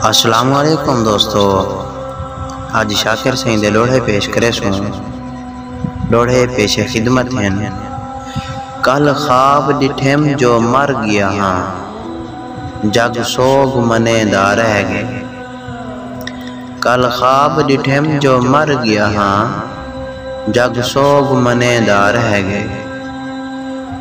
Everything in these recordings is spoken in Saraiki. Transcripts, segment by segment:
السلام علیکم دوستو اج شاکر سائیں دے لوڑھے پیش کرے سوں لوڑھے پیش خدمت ہیں کل خواب ڈٹھم جو مر گیا ہاں جگ سوگ منے دا رہ گئے کل خواب ڈٹھم جو مر گیا ہاں جگ سوگ منے دا رہ گئے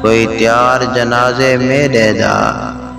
کوئی تیار جنازے میرے دا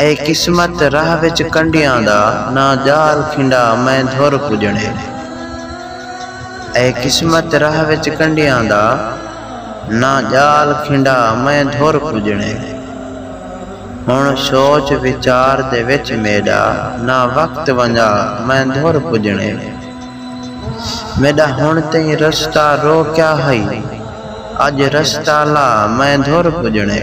اے قسمت راہ وچ کنڈیاں دا نہ ڄال کھنڈا میں دھر پڄݨے اے قسمت راہ وچ کنڈیاں دا نہ ڄال کھنڈا میں دھر پڄݨے ہݨ سوچ وچار دے وچ میݙا نہ وقت ونڄا میں دھر پڄݨے میݙا ہݨ تئیں رستہ روکیا ہئی اڄ رستہ لا میں دھر پڄݨے۔